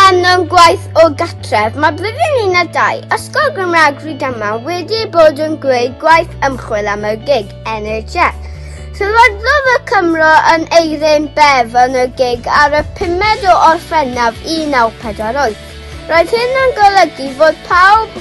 rhan o'n gwaith o gatref, mae blwyddyn un a dau, Ysgol Gymraeg Rhydama wedi bod yn gwneud gwaith ymchwil am y gig NHS. Sylwaddodd y Cymro yn eirin bef yn y gig ar y 5 o Orffennaf 1948. Roedd hyn yn golygu fod pawb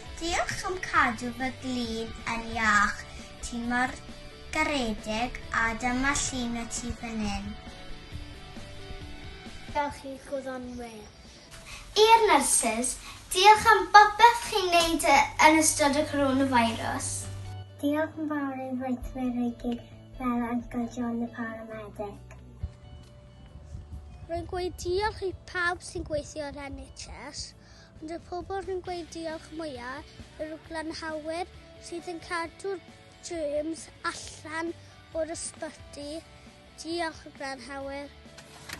Diolch am cadw fy glin yn iach, ti mor garedig a dyma llun o ti fan hyn. Dewch i'r gwyddonwyr. I'r nyrsys, diolch am bopeth chi'n wneud yn ystod y coronavirus. Diolch yn fawr i'r weithwyr i gyd fel Uncle John y paramedic. Rwy'n gweud diolch i pawb sy'n gweithio i'r NHS. Ond y pobl sy'n gweud diolch mwyaf yw'r glanhawyr sydd yn cadw'r germs allan o'r ysbyty. Diolch glanhawyr.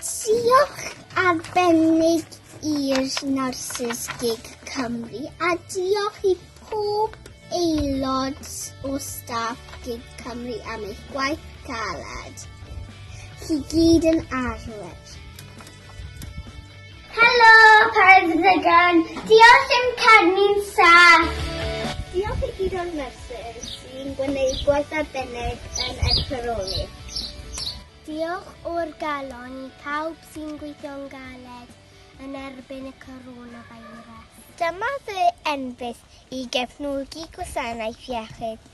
Diolch arbennig i'r Nyrsys Gig Cymru a diolch i pob aelod o staff Gig Cymru am eich gwaith caled. Chi gyd yn arwyr. Helo, Paid Ddigon! Diolch i'm carni'n saff! Diolch i gyd o'r nyrsys sy'n gwneud gwaith arbennig yn edferoli. Diolch o'r galon i pawb sy'n gweithio'n galed yn erbyn y coronavirus. Dyma fy enbyd i gefnogi gwasanaeth iechyd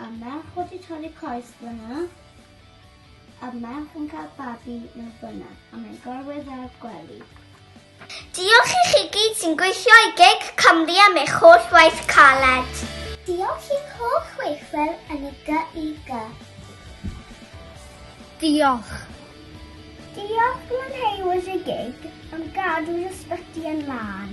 A merch wedi torri coes fyna. A merch yn cael babi mewn fyna. A mae'n gorwedd ar gwely. Diolch i chi gyd sy'n gweithio i gig Cymru am eich holl waith caled. Diolch i'n holl chweithwyr yn y GIG. Diolch. Diolch Glenhywys y gig am gadw'r ysbyty yn lân.